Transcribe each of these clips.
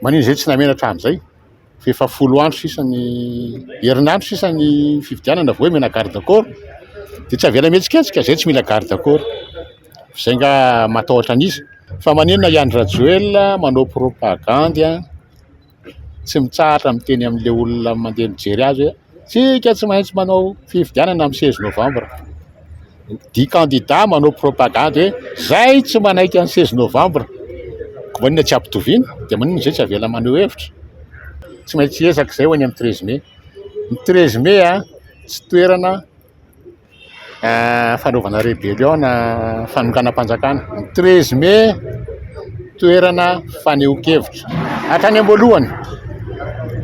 Maninona izay tsy namena hatramin'izay? Fa efa folo andro sisa ny, herinandro sisa ny fifidianana vao hoe hamena garde corps? Dia tsy avela mihetsiketsika? Izay tsy mila garde corps. Izay angaha matahotra an'iza? Fa maninona i Andry Rajoelina manao propagandy, tsy mitsahatra miteny amin'ilay olona mandeha mijery azy hoe. Isika tsy maintsy manao fifidianana amin'ny seize novambra. Dia kandida manao propagandy hoe izay tsy manaiky ny seize novambra dia maninona tsy ampitoviana? Dia maninona izay tsy avela maneho hevitra? Tsy maintsy hiezaka izay ho any amin'ny treize mey. Ny treize mey tsy toerana. fanaovana rébellion na fanonganam-panjakana treize mai toerana fanehoan-kevitra hatrany am-boalohany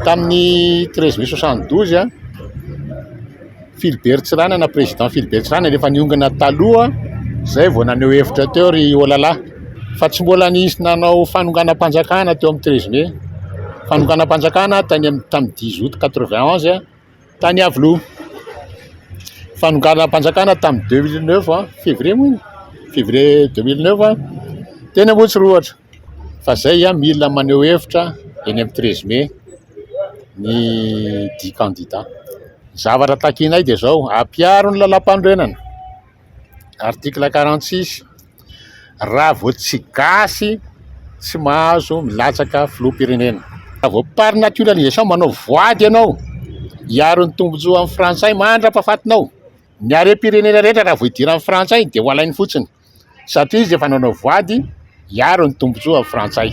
tamin'ny treize mai soixante douze a Philibert Tsiranana président Philibert Tsiranana rehefa niongana taloha izay vao naneho hevitra teo ry olala fa tsy mbola nisy nanao fanonganam-panjakana teo amin'ny treize mai fanonganam-panjakana tany amin'ny tamin'ny dix aout quatre vingt onze a tany Iavoloha. Fanonganam-panjakana tamin'ny deux mille neuf an, février moa iny, février deux mille neuf an, teny Amotsirohatra. Fa izay mila maneho hevitra eny amin'ny treize mai ny dix candidats. Ny zavatra takianay dia izao, ampiaro ny lalàmpanorenana. article quarante six raha vao tsy gasy tsy mahazo milatsaka filoham-pirenena. Raha vao par naturalisation manao voady ianao hiaro ny tombotsoa amin'ny frantsay mandra-pahafatinao, ny harem-pirenena rehetra raha vao idiran'ny frantsay dia ho alainy fotsiny satria izy efa nanao voady hiaro ny tombotsoa amin'ny frantsay.